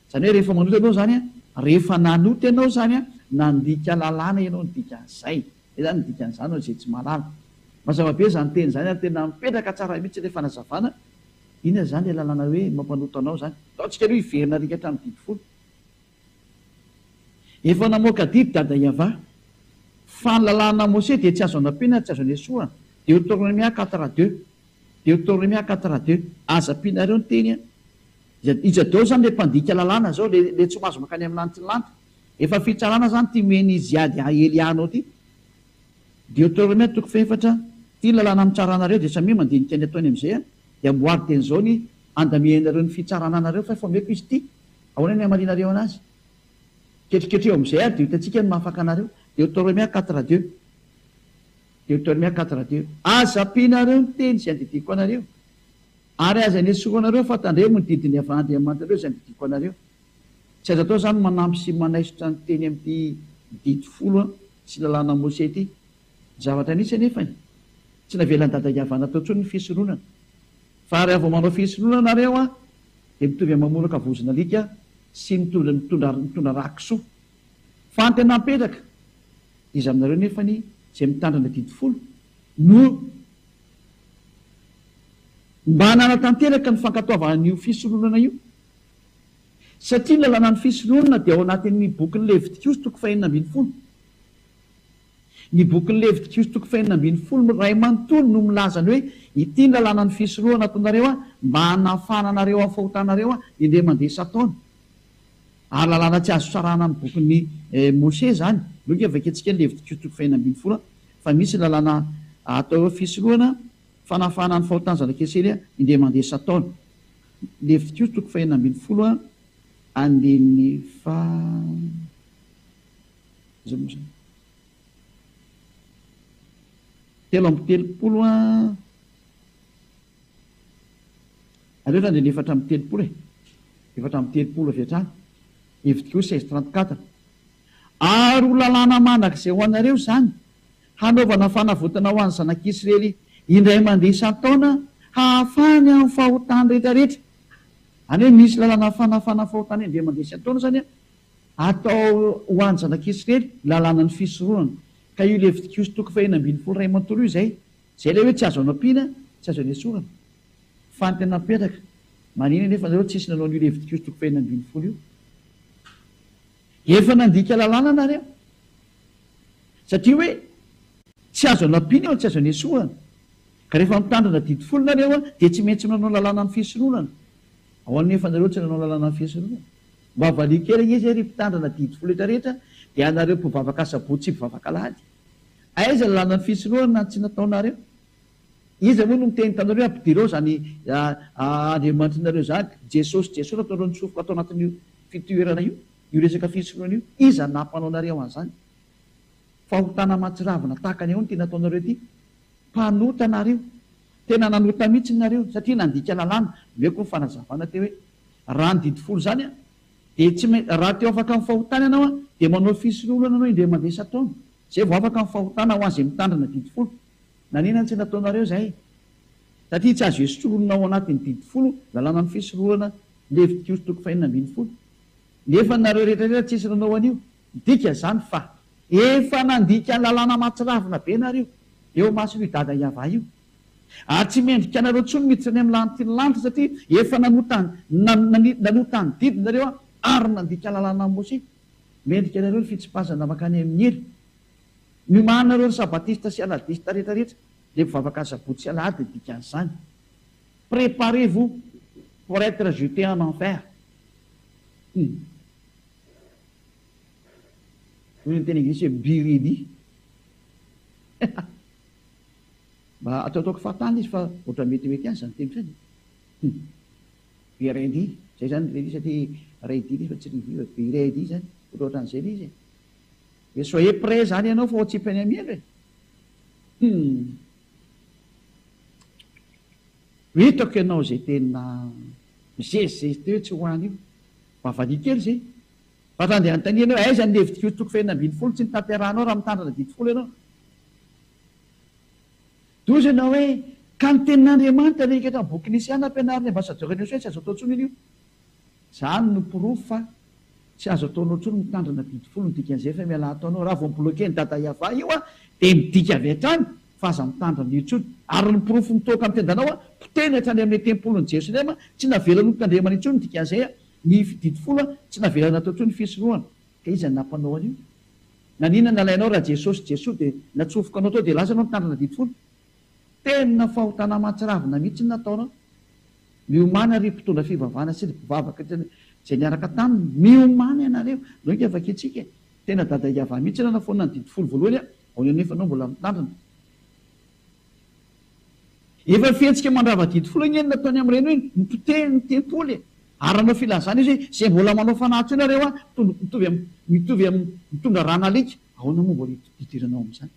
Izany hoe rehefa manota ianao izany, rehefa nanota ianao izany, nandika lalàna ianao ny dikan'izay. Izay izany ny dikan'izany ho an'izay tsy mahalala. Mazava be izany teny izany ary tena mipetraka tsara mihitsy ilay fanazavana. Inona izany ilay lalàna hoe mampanota anao izany? Ataontsika aloha hiverina rika hatramin'ny didy folo. Efa namoaka didy Dada Yava, fa ny lalàna Mose dia tsy azo anampiana ary tsy azo anesoana. Deoteronomia quatre a deux. Deuteronomia quatre raha deux aza ampianareo ny teny an! Iza iza daolo zany le mpandika lalàna zao le le tsy mahazo mankany am lanitry ny lanitra? Efa fitsarana zany ty mihena izy hiady ahy elianao ty! Deuteronomia toko fahefatra Ty ny lalàna amitsarànareo de samia mandinika ny ataony amizay an! De amboary teny zao ny andamianareo ny fitsarana anareo fa efa omeko izy ty! Ahoana ny hamalianareo anazy? Ketriketreho amizay ary de ho hitantsika ny maha afaka anareo! Deuteronomia quatre raha deux. Deuteronomia quatre raha teo. Aza ampianareo ny teny izay andidiako anareo, ary aza inesorao anareo fa tandremo ny didin'i Yaveh Andriamanitrareo izay andidiako anareo. Tsy azo atao izany ny manampy sy manaisotra ny teny amin'ity Didy Folo sy Lalànan'i Mose ity. Zavatra nisy anefa e! Tsy navelan'i Dada Yaveh natao intsony ny fisoronana. Fa raha vao manao fisoronana nareo dia mitovy amin'ny mamoraka vozon'alika sy mitondra mitondra mitondra rà kisoa. Fa ny tena mipetraka, iza aminareo nefany izay mitandrina didy folo no mba nanatanteraka ny fankatoavana an'io fisondronana io? Satria ny lalànan'ny fisondronana dia ao anatin'ny bokin'ny Levitikoso toko fahenina ambin'ny folo. Ny bokin'ny Levitikoso toko fahenina ambin'ny folo iray manontolo no milaza ny hoe ity ny lalànan'ny fisondronana ataonareo mba hanafahana anareo amin'ny fahotanareo indray mandeha isan-taona. Ary lalàna tsy azo sarahana amin'ny bokin'i Mosè izany. Aloha ange vakiantsika ny Levitikos toko fahenina ambin'ny folo fa misy lalàna atao hoe fisorohana fanafahana ny fahotan'ny zanak'Israely indray mandeha isan-taona. Levitikos toko fahenina ambin'ny folo andininy faha. Iza moa izany? Telo amby telopolo. Aleo zany dia ny efatra amby telopolo e! Efatra amby telopolo avy hatrany, hevitriko seize trente quatre. Ary ho lalàna mandrakizay ho anareo izany, hanaovana fanavotana ho an'ny zanak'Israely indray mandeha isan-taona hahafahany amin'ny fahotany rehetrarehetra. Any hoe misy lalàna fanafahana fahotana indray mandeha isan-taona izany an, atao ho an'ny zanak'Israely, lalànan'ny fisorohana. Ka io Levitikiosy toko fahenina ambin'ny folo iray manontolo io izay. Zay ilay hoe tsy azo anampiana, tsy azo anesorana. Fa ny tena mipetraka, manina anefa anareo tsisy nanao an'io Levitikosy toko fahefatra ambin'ny folo io. Efa nandika lalàna nareo. Satria hoe tsy azo anampiana eo ny tsy azo anesorana. Ka rehefa mitandrina didy folo nareo dia tsy maintsy manao lalàna ny fisoronana. Ahoana anefa nareo tsy nanao lalàna ny fisoronana? Mba valian-kerigna izy hoe ry mpitandrina didy folo retraretra dia anareo mpivavaka sabotsy sy mpivavaka alahady. Aiza ny lalan'ny fisorohana tsy nataonareo? Iza moa no niteny taminareo hoe ampidirao izany Andriamanitrinareo izany, Jesosy Jesosy nataonareo nitsofoka tao anatin'io fitoerana io, io resaka fisorohana io? Iza no nampanaonareo an'izany? Fahotana mahatsiravina tahaka ny ahoana ity nataonareo ity? Mpanota nareo! Tena nanota mihitsy nareo satria nandika lalàna, omeko ny fanazavana teo hoe raha ny didy folo izany an! Dia tsy main raha te ho afaka amin'ny fahotana ianao an, dia manao fisoloholana anao indray mandeha isan-taona. Izay vao afaka amin'ny fahotana ho an'izay mitandrina didy folo. Naninona no tsy nataonareo izay? Satria tsy azo esotroholina ao anatin'ny didy folo lalànan'ny fisoloholana Levitikoso toko fahenina ambin'ny folo. Nefa nareo rehetra rehetra tsisy nanao an'io. Midika izany fa efa nandika ny lalàna mahatsiravina be nareo eo mason'io dada Yavah io. Ary tsy mendrika anareo intsony miditra any amin'ny lahantr'ity ny lanitra, satria efa nanota ny nanota ny didinareo ary nandika lalàna an'i Mosè. Mendrika anareo ny fitsipazana mankany amin'ny hery. Miomahanareo ry Sabatista sy Aladista rehetra rehetra, dia mivavaka Asabotsy sy Alahady ny dikan'izany. Préparez-vous pour être jetés en enfer. Hum. Hoy ny teny anglisy hoe be ready. Mba ataotaoko fahatany izy fa ohatra metimety ihany izany teniko izany e! Hum! Be RD izay izany ilay lisatra hoe RD ilay izy fa tsy revue e! Be RD izany, ohatraohatran'izay ilay izy e! Dia soyez prêt izany ianao fa ho atsipy any amiandra e! Hum! Hitako ianao izay tena mizezizezy teo hoe tsy ho any io, mba valiha kely izay! Fa raha andeha hanontaniana hoe aiza ny levitik'io toko fahefna ambin'ny folo tsy notanterahanao raha mitandrina didy folo ianao? Dia hoy izy ianao hoe, Ka ny tenin'Andriamanitra ve hikatra ny boky Nisià nampianarin'ny ambasadiora an'i Josoa tsy azo atao intsony anio? Izany no porofo fa tsy azo ataonao intsony mitandrina didy folo ny dikan'ny Zefa Ialahy ataonao. Raha vao mi-bloquer ny Dada Yavah io aho dia midika avy hatrany fa aza mitandrina an'io intsony. Ary ny porofo mitoaka amin'ny tendanao aho, potehiny hatrany amin'ny tempolin'i Jerosalema, tsy navela notandremana intsony ny dikan'izay aho, ny didy folo tsy navela natao intsony ny fisorohana. Ka iza no nampanao an'io? Naninona nalainao raha Jesosy Jesoa dia natsofoka anao tao dia lasa anao nitandrina didy folo? Tena fahotana aman-tsiravina mihitsy ny nataonao. Miomana ry mpitondra fivavahana sy ry mpivavaka izay niaraka taminy, miomana ianareo. Andao ika vakiantsika e! Tena dada Iavah mihitsy raha nafoanana ny didy folo voalohany aho, ao ihany nefa anao mbola mitandrina. Efa fihetsika mandrava-didy foana anie ny nataony amin'ireny hoe mipoteha ny tempoly e! Ary nanao filazana izy hoe izay mbola manao fanahy teo nareo an, mitovy amin'ny mitovy amin'ny mitondra ran'alika, ahoana moa vao hidiranao amin'izany?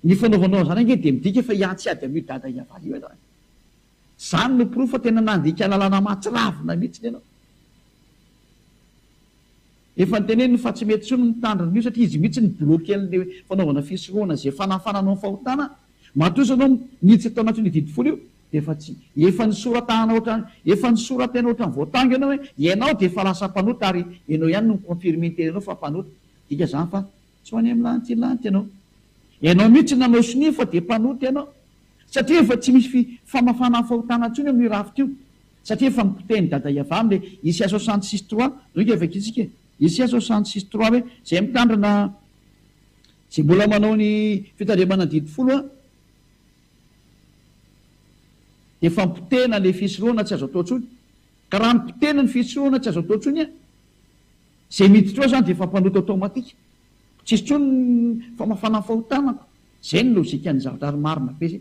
Ny fanaovanao an'izany ange dia midika fa hiantsy ady amin'io dada hiavara io ianao e! Izany no porofo fa tena nandika lalana mahatsiravina mihitsy ianao. Efa noteneniny fa tsy mety intsony ny mitandrina an'io satria izy mihitsy no bloquen'le fanaovana fisorohana ze fanafana anao fahotana, matoa izao enao miditra tao anatin'io didy folo io de efa tsy, efa nisoratahana ohatrany, efa nisoratena ohatrany voatango enao hoe ianao de efa lasa mpanota ary enao ihany no mi-confirmer ny tenanao fa mpanota, midika zany fa tsy ho any amin'ny lanti lanty enao, enao mihitsy nanao sonia fa de mpanota enao satria efa tsy misy fi famafana fahotana intsony eo amin'io rafitra io. Satria efa nipotehiny dada i Avram le Isia soixante six trois reo ke vakintsika e! Isia soixante six trois hoe zay mitandrina zay mbola manao ny fitandremana didy folo a de efa nipotehina le fisorohana tsy azo atao tsony ka raha nipotehina ny fisorohana tsy azo atao tsony a zay miditra ao zany de efa mpanota automatique tsisy tsony ny famafana ny fahotanako zay ny logique ny zavatra ary marina be zay.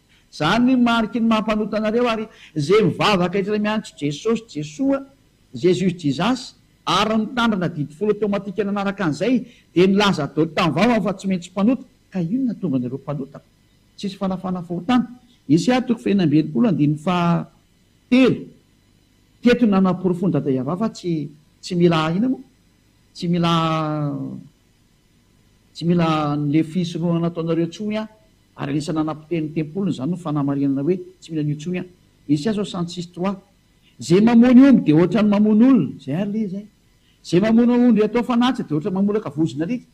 Zany ny mariky ny maha mpanota anareo ary ze mivavaka eto re miantso Jesosy Jesoa Jesus Jesus ary mitandrina adidy folo automatique nanaraka an'izay de nilaza dol tam vava aho fa tsy mentsy mpanota ka ino natonga anareo mpanota tsisy fanafana fahotana Esa toko fahefany amby enimpolo andininy faha telo teto no nanaporofon dada Yavah fa tsy tsy mila ina mo tsy mila tsy mila anle fisorohana nataonareo tsony an. Ary anisan'ny nanapotehiny ny tempoliny izany no fanamarinana hoe tsy mila an'io intsony aho. Isia zao cent six trois. Zay mamono omby dia ohatrany mamono olona. Zay ary le zay. Zay mamono ondry atao fanatitra dia ohatrany mamolaka vozon'alika.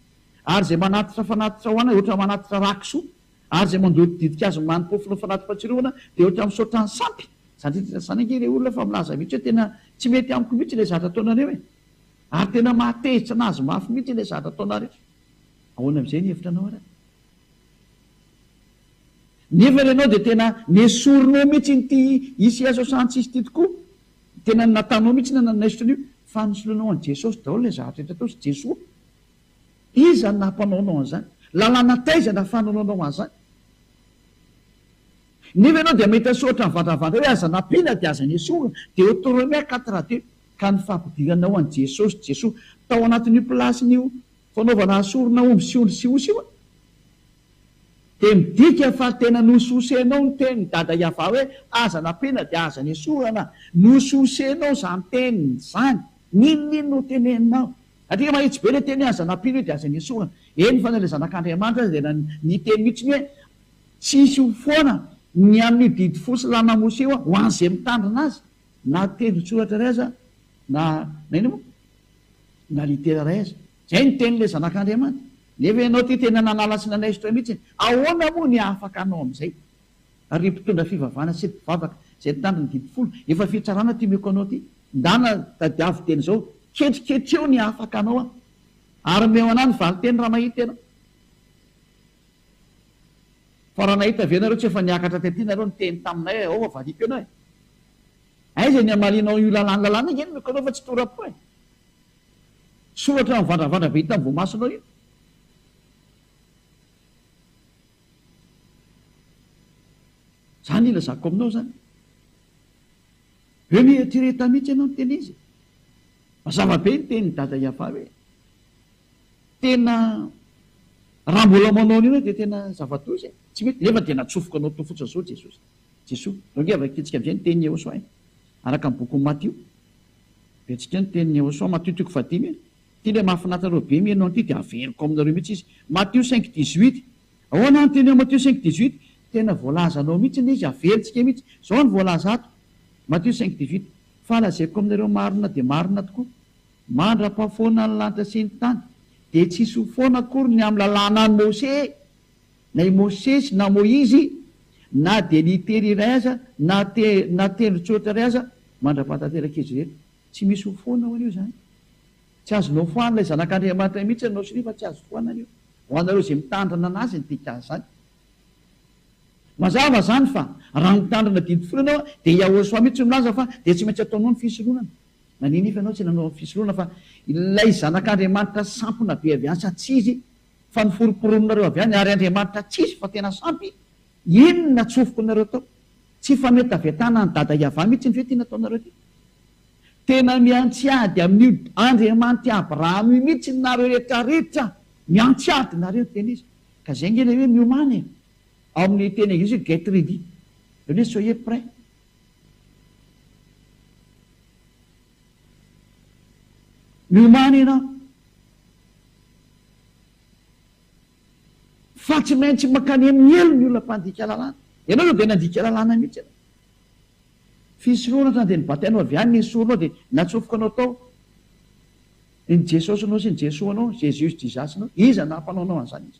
Ary zay manatitra fanatitra ho anay ohatrany manatitra rà kisoa. Ary zay mandoto ditin-kazo manimpofono fanati-patsiroana dia ohatrany misaotra an'i sampy. Za ndray tena zany ange le olona fa milaza mihitsy hoe tena tsy mety amiko mihitsy ilay zatra ataonareo e! Ary tena mahatezitra anazy mafy mihitsy ilay zatra ataonareo. Ahoana amin'izay ny hevitra anao ary? Nefa ianao dia tena nesorinao mihitsy iny ity hisy Ieso Santsisy ity tokoa. Tena ny nataonao mihitsy na nanaisotra an'io fa nisoloanao an'i Jesosy daholo ilay zavatra rehetra ataosy Jesoa. Iza no nampanaonao an'izany? Lalàna taiza no ahafahananao an'izany? Nefa ianao dia mahita soratra mivandravandra hoe aza nampiana dia aza nesorina. Deoteronomia quatre deux ka ny fampidiranao an'i Jesosy Jesoa tao anatin'io plasin'io. Fanaovana asorina omby sy ondry sy osy io dia midika fa tena nosososenao ny tenin'i Dada Yavah hoe aza nampiana dia aza nesorana. Nosososenao izany teny izany. N'inon'inona ho teneninao. Satria mahitsy be ilay teny hoe aza nampiana io dia aza nesorana. Eny fa na ilay Zanak'Andriamanitra aza dia niteny mihitsy hoe tsy hisy ho foana ny amin'io didy fo sy lanamosy io ho an'izay mitandrina azy. Na tendron-tsoratra iray aza, na na inona moa? Na litera iray aza. Izay no tenin'ilay Zanak'Andriamanitra. Nefa ianao ity tena nanala sy nanaisotra ahy mihitsy e! Ahoana moa ny afaka hanao amin'izay? Ary ry mpitondra fivavahana sy ry mpivavaka izay nitandro ny didy folo, efa fitsarana ity omeko anao ity. Ndana, tadiavo teny izao, ketriketreo ny afaka hanao aho. Ary omeo ana ny valin-teny raha mahita ianao. Fa raha nahita ve nareo tsy efa niakatra tety nareo niteny taminay hoe aova valiako ianao e! Aiza ny hamalianao io lalàna lalàna iny miko anao fa tsy tora-po e! Soratra mivandravandra be hita amin'ny voamasonao io. Zany ilazako aminao zany. Be miretireta mihitsy ianao niteny izy. Mazava be ny tenin'i Dada Yava hoe tena Raha mbola manao an'io ianao dia tena zava-doza e! Tsy mety, nefa dia natsofoka anao teo fotsiny sao Jesosy. Jesoa, zao ange vakintsika amin'izay ny tenin'i Yehosua e! Araka ny bokin'i Matio, Biantsika ny tenin'i Yehosua, Matio toko fahadimy e! Ity ilay mahafinaritra anareo be mihaino an'ity dia averiko aminareo mihitsy izy, Matio cinq dix huit, Ahoana ny tenin'i Matio cinq dix huit? Tena voalaza anao mihitsy ilay izy, averintsika mihitsy, zao no voalaza ato, Matio cinq dix huit, Fa lazaiko aminareo marina dia marina tokoa, Mandra-pahafoana ny lanitra sy ny tany, dia tsy hisy ho foana akory ny amin'ny lalànan'i Mose, na i Mosesy, na Moizy, na dia litera iray aza, na te, na tendron-tsoratra iray aza, mandra-pahatanteraka izy ireny. Tsy misy ho foana hoan'io izany. Tsy azonao foana ilay Zanak'Andriamanitra mihitsy ianao sy nefa tsy azo foana an'io. Ho anareo izay mitandrina an'Azy ny dika an'izany. Mazava izany fa, raha mitandrina didy folo ianao, dia i Yahoshua mihitsy no milaza fa dia tsy maintsy ataonao ny fisoloanana. Naninify ianao tsy nanao fisoloana fa ilay zanak'Andriamanitra sampona be avy any sa tsy izy fa noforomporononareo avy any ary Andriamanitra tsy izy fa tena sampy inona tsofiko nareo tao tsy fametavetana an'i dada Yavah mitsy ny ve ty nataonareo ty tena miantsy ady amin'io Andriamanitr'i Abraham io mitsy nareo rehetra rehetra miantsy ady nareo ny teny izy ka zay nge le hoe miomana e ao amin'ny teny anglisy hoe get ready zany hoe soyez prêt Milomano ianao fa tsy maintsy mankany amin'ny helo ny olona mpandika lalàna. Ianao izao dia nandika lalàna mihitsy ianao. Fisoloana hatrany dia ny batainao avy any ny soronao dia natsofoka anao tao. Ny Jesosinao sy ny Jesoanao, Jesus Jesus-nao, iza naha mpanao anao an'izany izy?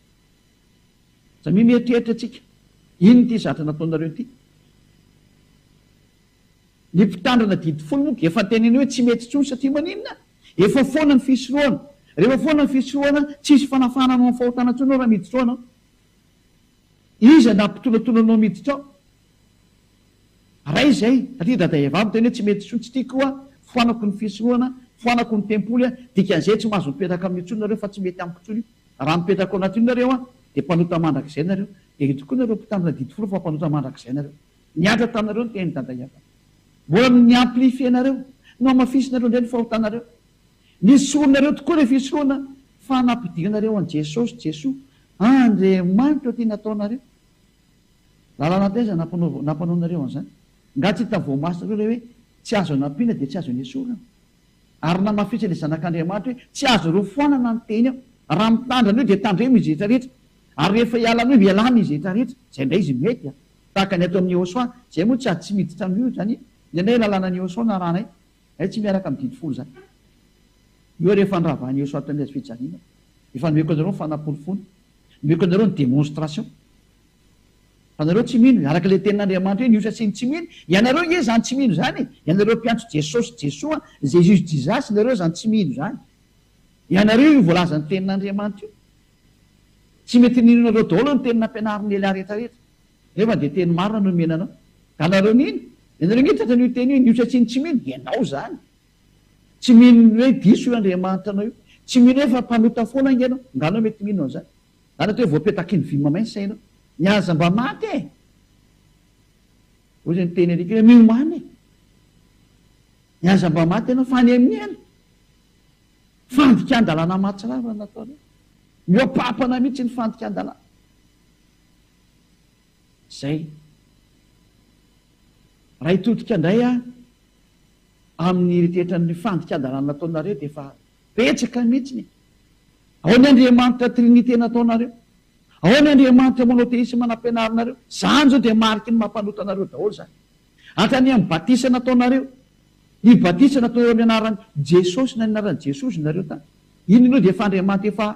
Samia mieritreritra antsika, inona ity zatra nataonareo ity? Ny mpitandrina didy folo moa efa teneno hoe tsy mety intsony satria maninona? Efa foana ny fisorohana. Rehefa foana ny fisorohana, tsy hisy fanafahana anao amin'ny fahotana intsony ao raha miditra ao ianao. Iza no hampitolatola anao miditra ao? Raha izay, satria dada Eva miteny hoe tsy mety intsony, tsy tiako aho, foanako ny fisorohana, foanako ny tempoly aho, dikan'izay tsy mahazo mipetraka amin'io intsony nareo fa tsy mety amiko intsony io. Raha mipetraka ao anatin'io nareo aho, dia mpanota mandrakizay nareo. Dia io tokoa nareo mpitandrina didy folo fa mpanota mandrakizay nareo. Niantra taminareo ny tenin'i dada Eva. Mbola ny ni-amplifie-nareo, nohamafisinareo indray ny fahotanareo. Nisorohanareo tokoa ilay fisorohana fa nampidirinareo an'i Jesosy, Jesoa, Andriamanitra, ity nataonareo. Lalàna taiza nampanaova nampanaonareo an'izany? Nga tsy hita voamasitra loatra hoe tsy azo anampiana dia tsy azo anesorana? Ary namafisany ilay Zanak'Andriamanitra hoe tsy azonareo foanana ny teny aho. Raha mitandrina an'io dia tandremo izy rehetra rehetra. Ary rehefa hiala an'io dia lany izy rehetra rehetra. Izay indray izy mety an! Tahaka ny ato amin'i Yehosua. Izay moa tsy ady tsy miditra amin'io izany. Indraindray ny lalànan'i Yehosua no arahanay. Izay tsy miaraka amin'ny didy folo izany. Io ary efa niravahan'i Yehosua tamin'ny hazo fijaliana. Efa nomeko anareo ny fanampiny fony. Nomeko anareo ny démonstration fa anareo tsy mino, araka ilay tenin'Andriamanitra hoe ny osa sy ny tsy mino, ianareo nge izany tsy mino izany e, ianareo mpiantso Jesosy Jesoa, Jesus Jesus nareo izany tsy mino izany, ianareo io voalazan'ny tenin'Andriamanitra io, tsy mety ninonareo daholo ny teny nampianarin'i Elia rehetra rehetra, nefa dia teny marina no omena anao, ka anareo nino, ianareo nge tratran'io teny hoe ny osa sy ny tsy mino, ianao izany. Tsy mino ny hoe diso io Andriamanitra anao io. Tsy mino hoe efa mpanota foana ange ianao. Nga ianao mety mino an'izany? Nga mety hoe voapetaky ny vy mamay ny sainao? Ny aza mba maty e! Hoy izay niteny alika hoe miomàna e! Ny aza mba maty ianao, fanenihana. Fandikan-dalàna mahatsiravina no nataonao. Mihoa-pampana mihitsy ny fandikan-dalàna. Zay. Ray todika ndray a, amin'ny eritreritran'ny fandikan-dalàna nataonareo dia efa betsaka mihitsiny e. Ao ny Andriamanitra Trinite nataonareo, ao ny Andriamanitra Monotheisme nampianarinareo, zany zao dia mariky ny maha mpanota anareo daholo zany. Hatrany amin'ny batisa nataonareo, ny batisa nataonareo amin'ny anaran'i Jesosy na ny anaran'i Jesozy nareo tany. Iny aloha dia efa Andriamanitra efa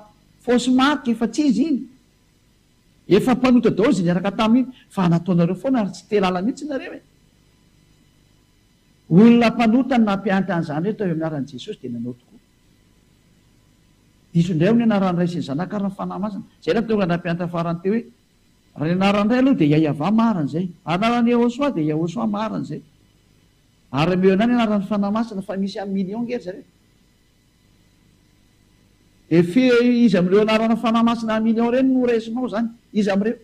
fausse marque, efa tsy izy iny. Efa mpanota daholo izay niaraka taminy fa nataonareo foana ary tsy te lala mihitsy nareo e! Olona mpanota no nampiantra an'izany rehetra eo amin'ny anaran'i Jesosy dia nanao tokoa. Diso indray hono ny anaran'ny Ray sy ny Zanaka ary ny Fanahy Masina. Izay no nahatonga ny nampiantra farany teo hoe, Raha ny anaran'ny Ray aloha dia Iahiavà marina izay. Anaran'i Iehôsoà dia Iahôsoà marina izay. Ary ameo ihany ny anaran'ny Fanahy Masina fa misy amin'ny millions nge ry zareo. Effet iza amin'ireo anarana fanahy masina à millions ireny no raisinao zany? Iza amin'ireo?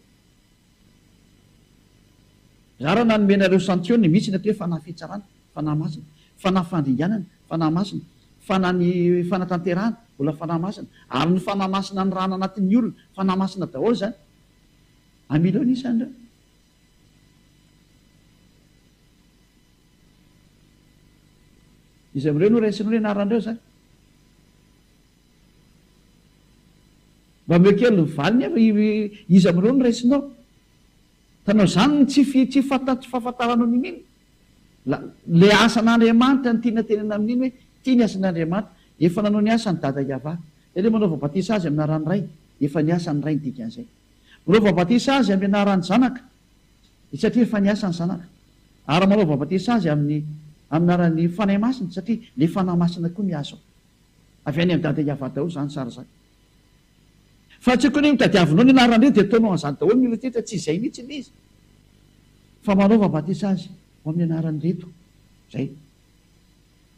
Za raha nanome anareo santionne misy ny atao hoe fanahy fitsarana, fanahy masina, fanahy fandringanana, fanahy masina, fanahy ny fanatanterahana, mbola fanahy masina, ary ny fanahy masina anirahana anatin'ny olona, fanahy masina daholo zany. À millions ny isan'ireo. Iza amin'ireo no raisinao ny anaran'ireo zany? Mba ameo kely ny valiny ava iza amin'ireo no raisinao? Tanao izany ny tsy fi tsy fanta tsy fahafantaranao ny mino la le asan'Andriamanitra ny tiana tenenina amin'iny hoe ity ny asan'Andriamanitra efa nanao ny asany dada Iavah zay le manaova batisa azy amin'ny anaran'ny ray efa ny asan'ny ray ny dikan'izay manaova batisa azy amin'ny anaran'ny zanaka Dia satria efa niasa ny Zanaka. Ary manao babatesa azy amin'ny amin'ny anaran'ny Fanahy Masina, satria ilay Fanahy Masina koa miasa ao. Avy any amin'i Dada Iavah daholo izany sary izany. Fa tsy tokony notadiavinao ny anaran'ireo dia ataonao an'izany daholo ny olona ity satria tsy izay mihitsy ilay izy. Fa manao babatesa azy ao amin'ny anaran'ireto izay.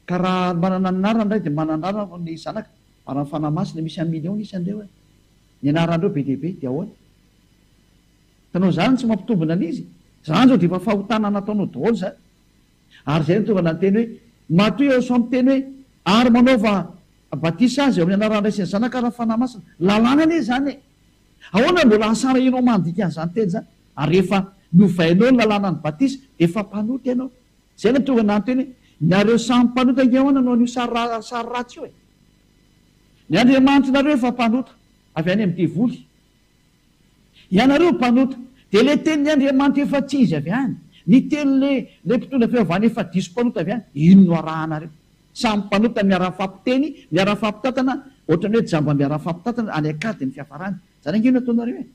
Ka raha manana ny anarany ny Ray dia manana ny anarany ny Zanaka, ary ny Fanahy Masina misy amin'ny millions ny isan'ireo e. Ny anaran'ireo be dia be dia ahoana? Hitanao izany tsy mampitombina an' izy? Izany izao dia efa fahotana nataonao daholo izany. Ary izay no tonga nanteny hoe, Matoa ianao sao miteny hoe, Ary manaova batisa azy ao amin' ny anaran' ny Ray sy ny Zanaka ary ny Fanahy Masina. Lalàna anie izany e! Ahoana no mbola hahasara ianao mandika an' izany teny izany? Ary rehefa novainao ny lalànan' ny batisa dia efa mpanota ianao. Izay no tonga nanteny hoe, Nareo samy mpanota ange ahoana no an' io sary sary ratsy io e! Ny Andriamanitrnareo efa mpanota avy any amin' ny devoly. Ianareo mpanota, dia le tenin'i Andriamanitra efa tsy izy avy any, ny teny le le mpitondra fiavahana efa diso mpanota avy any, iny no arahanareo. Samy mpanota miara-mifampiteny, miara-mifampitantana, ohatrany hoe jamba miara-mifampitantana, any an-kady ny fiafarany. Zany ange no ataonareo e!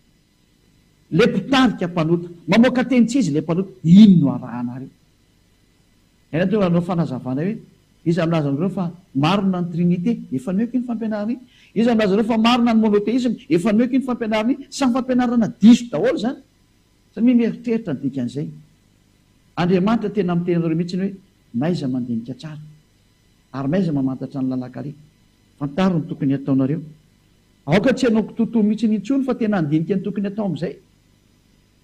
Le mpitarika mpanota, mamoaka teny tsy izy le mpanota, iny no arahanareo. Eto dia hanao fanazavana hoe, Iza milaza aminareo fa marina ny Trinite? Efa nihoiko iny fampianarana iny. Iza milaza aminareo fa marina ny monotheisme? Efa nihoiko iny fampianarana iny. Samy fampianarana diso daholo izany. Samia mieritreritra ny dikan'izay. Andriamanitra tena miteny anareo mihitsy hoe, Maiza mandinika tsara. Ary maiza mamantatra ny lalan-kaleha. Fantaro ny tokony hataonareo. Aoka tsy hanao kitoatoa mihitsy intsony fa tena handinika ny tokony hatao amin'izay.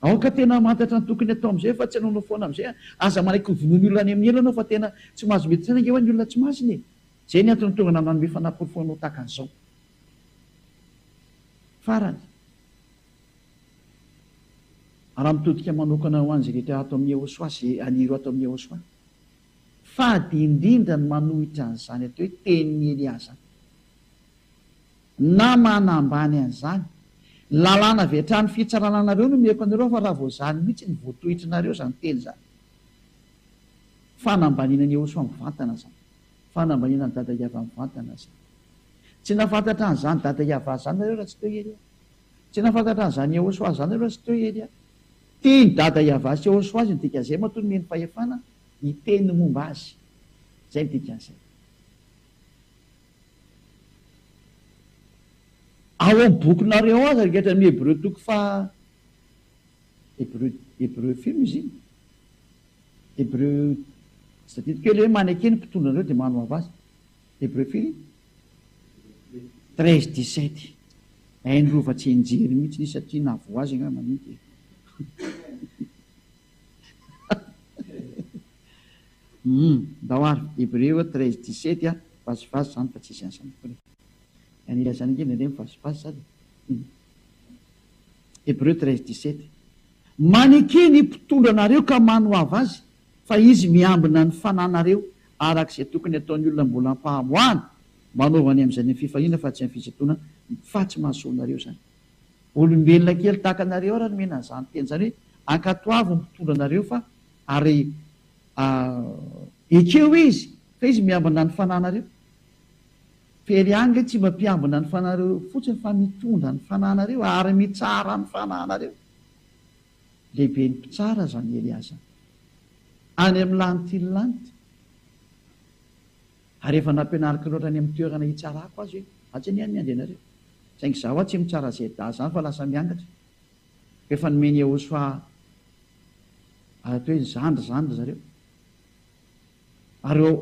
Aoka tena hamantatra ny tokony hatao amizay fa tsy hanaonao foana amizay an! Aza manaiky ho vonoin'ny olona any amin'ny ela anao fa tena tsy mahazo mety saina ange ho'a ny olona tsy masina e! Zay ny antony tonga nanome fanaporofoanao tahaka an'izao. Farany, raha mitodika manokana ho an'izay rehetra ato amin'ny Yehoswa sy an'ireo ato amin'ny Yehoswa, fady indrindra ny manohitra an'izany atao hoe tenin'i Elià zany. Na mana ambany an'izany. Ny lalàna avy hatrany fitsarana anareo no omeko anareo fa raha vao izany mihitsy no voatohitry nareo izany teny izany. Fanambaniana an'i Eosoa mivantana izany. Fanambaniana an'i Dada Iavah mivantana izany. Tsy nahafantatra an'izany Dada Iavah izany nareo raha tsy teo ery aho. Tsy nahafantatra an'izany Eosoa izany nareo raha tsy teo ery aho. Tian'i Dada Iavah sy Eosoa azy ny dikan'izay matoa nomeny fahefana hiteny ny momba azy. Izay ny dikan'izay. Ao amin'ny bokinareo aza ankehitriny amin'ny Hebreo toko faha, Hebreo, Hebreo firy izy iny? Hebreo, tsy tadidiko ela hoe maneke ny mpitondra anareo dia manohava azy. Hebreo firy iny? Treize dix-sept. Hainy rova tsy hianjery mihitsy izy satria na voa azy angamba mety e. Humm ndao ary Hebreo treize dix-sept a! Vazivazy izany fa tsisy an'izany akory e! Any ilazana ange nendrey ny vazivazy izany e! Humm. Hebreo treize dix-sept. Maneke ny mpitondra anareo ka manohava azy fa izy miambina ny fananareo araka izay tokony ataon'ny olona mbola am-pahamoahana, manaova ny amin'izay ny fifaliana fa tsy amin'ny fisintonana fa tsy mahasoa anareo izany. Olombelona kely tahaka anareo ary no omena an'izany teny izany hoe ankatoavo ny mpitondra anareo fa Ary ah, ekeo izy fa izy miambina ny fananareo. Very any ilay tsy mba mpiambina ny fananareo eo fotsiny fa mitondra ny fananareo ary mitsara ny fananareo. Lehibe ny mpitsara aza ny hery azany. Any amin'ny lanity ny lanity. Ary efa nampianariko loatra any amin'ny toerana hitsarako azy hoe atsy anie ny andehanareo. Saingy za hoa tsy mitsara zda zany fa lasa miangatra. Efa nomeny Iehosafà atao hoe zandry izany ry zareo. Ary eo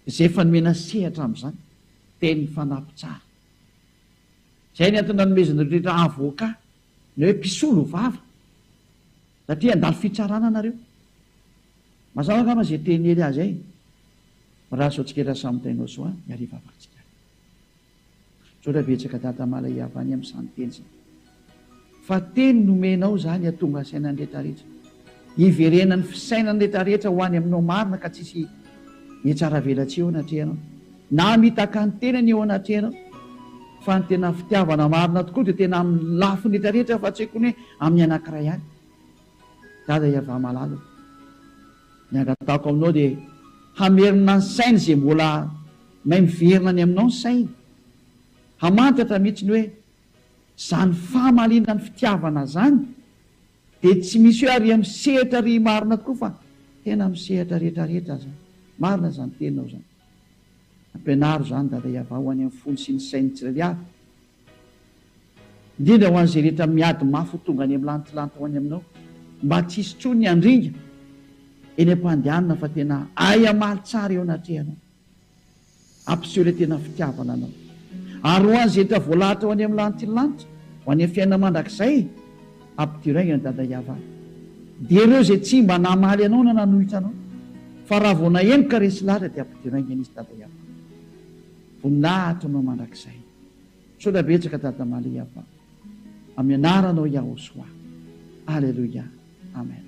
izay efa nomena sehatra amin'izany, teny fanampy tsara. Izay ny antony nanomezan'ireo rehetra havoka ny hoe mpisolo vava, satria handalo fitsarana nareo. Mazava angamba izay teny Hery azy ay, Mirary sao tsiketra samy tainao soa ny hariva avaratsika. Misaotra betsaka Dada Malayavani amin'izany teny izany. Fa teny nomenao izany hahatonga asainan'ny rehetra rehetra. Hiverenan'ny fisainan'ny rehetra rehetra ho any aminao marina ka tsisy hihatsaravelatsihy eo anatrehanao na mitaka ny tenany eo anatrehanao. Fa ny tena fitiavana marina tokoa dia tena amin'ny lafiny rehetra rehetra fa tsy hoe kony hoe amin'ny anankiray ihany. Dada Yavah malala o. Ny angatahako aminao dia hamerina ny sainy izay mbola. May miverina any aminao ny sainy, hamantatra mihitsy ny hoe zany famaliana ny fitiavana zany dia tsy misy hoe ary amin'ny sehatra ry marina tokoa fa tena amin'ny sehatra rehetra rehetra aza, marina zany teninao zany. Ampianaro zany Dada Iavah ho any amin'ny fony sy ny sain'ny tsirairay avy, indrindra ho an'izay rehetra miady mafy ho tonga any amin'ny lantilanty ho any aminao, mba tsy hisy tsony ny handringa eny am-pandehanana fa tena ahay hamaly tsara eo anatrehanao. Ampiseho ilay tena fitiavana anao. Ary ho an'izay hita voalahatra ho any amin'ny lanitry ny lanitra, ho any amin'ny fiainana mandrakizay, ampidiraigna an'i Dada Iavah. Dia ireo izay tsy mba namaly anao na nanohitra anao, fa raha vao nahemoka resy lahatra dia ampidiraigna an'izy Dada Iavah. Voninahitra ho anao mandrakizay. Misaotra betsaka Dada Maly Iavah. Amin'ny anaranao Yahosoah. Aleloia. Amen.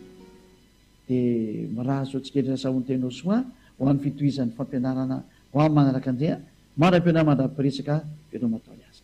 dia mirary soa tsikelikely sahonten'ny ho soa ho an'ny fitohizan'ny fampianarana ho amin'ny manaraka Andria manam-pionà mandra-piresaka veloma atao ny asa.